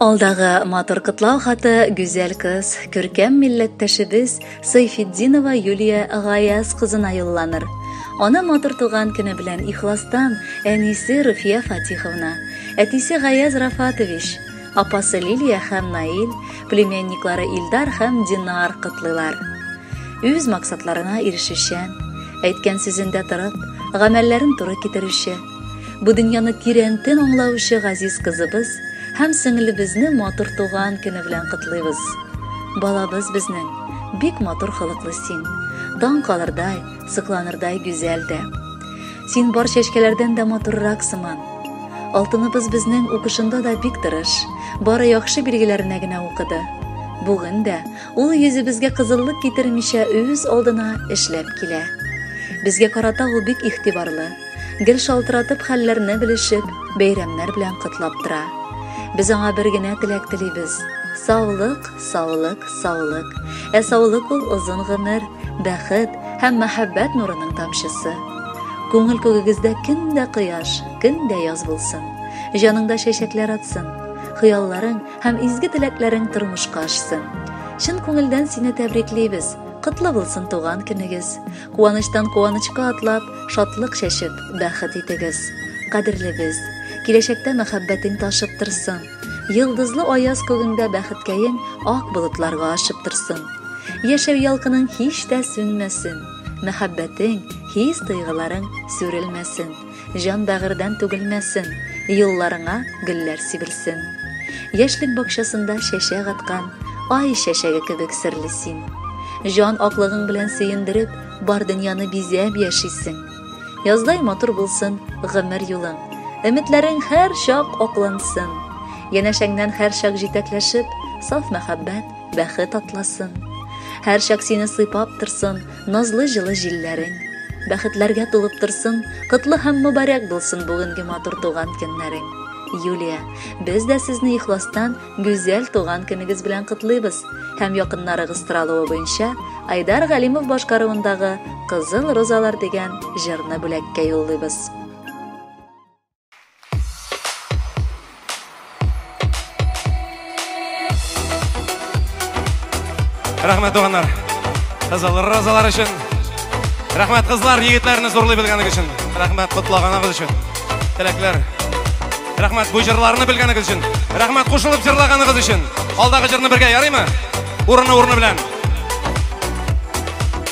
Алдагы матур котлау хаты гүзәл кыз, күркәм милләттәшебез Сайфетдинова Юлия Гаяз кызына юлланыр. Ана матур туган көне белән ихластан әнисе Руфия Фатиховна, әтисе Гаяз Рафатович, апасы Лилия һәм Наил, племянниклары Илдар һәм Динар котлыйлар. Үз максатларына ирешүчән, әйткән сүзендә торып, гамәлләрен туры китерүче, Бу дөньяны тирәнтен аңлаучы газиз кызыбыз һәм сеңлебезне матур туган көне белән котлыйбыз. Балабыз безнең, бик матур холыклы син. Дан калырдай, сокланырдай гүзәл дә. Син бар чәчкәләрдән дә матуррак сыман. Алтыныбыз безнең укышында да бик тырыш, бары яхшы билгеләренә генә укыды. Бүген дә Ул йөзебезгә кызыллык китермичә үз алдына эшләп килә. Безгә карата ул бик игътибарлы. Гел шалтыратып хәлләрне белешеп, бәйрәмнәр белән котлап тора. Без аңа бер генә теләк телибез. Саулык, саулык, саулык. Ә саулык ул озын гомер, бәхет һәм мәхәббәт нурының тамчысы. Күңел күгегездә көн дә кояш, көн дә яз булсын. Җаныңда чәчәкләр атсын. Хыялларың Һәм изге теләкләрең тормышка ашсын. Чын күңелдән сине тәбриклибез. Котлы булсын туган көнегез. Куаныштан куанычка атлап, шатлык чәчеп, бәхет итегез. Кадерле без. Киләчәктә мәхәббәтең ташып торсын. Йылдызлы аяз күгеңдә бәхеткәең ак болытларга ашып торсын. Яшәү ялкының һич тә сүнмәсен. Мәхәббәтең, хис тойгыларың сүрелмәсен. Җан бәгырьдән түгелмәсен, Юлларыңа гөлләр сибелсен. Яшьлек бакчасында чәчәк аткан, Ай чәчәге кебек серле син. Җан аклыгың белән сөендереп, Бар дөньяны бизәп яшисең. Яздай матур булсын гомер юлың, Өметләрең һәрчак аклансын. Янәшәңнән һәрчак җитәкләшеп, Саф мәхәббәт, бәхет атласын. Һәрчак сине сыйпап торсын, назлы җылы җилләрең. Бәхетләргә тулып торсын, котлы һәм мөбарәк булсын бүгенге матур туган көннәрең. Юлия, без дә сезне ихластан гүзәл туган көнегез белән котлыйбыз һәм якыннарыгыз соралуы буенча Айдар Галимов башкаруындагы Кызыл розалар дигән җырны бүләккә юллыйбыз. Рәхмәт туганнар. Кызыл розалар өчен. Рәхмәт кызлар, егетләрне зурлый белгәнегез өчен. Рәхмәт котлаганыгыз өчен. Теләкләр. Рәхмәт бу җырларны белгәнегез өчен. Рәхмәт кушылып җырлаганыгыз өчен. Алдагы җырны бергә ярыймы? Урыны урыны белән.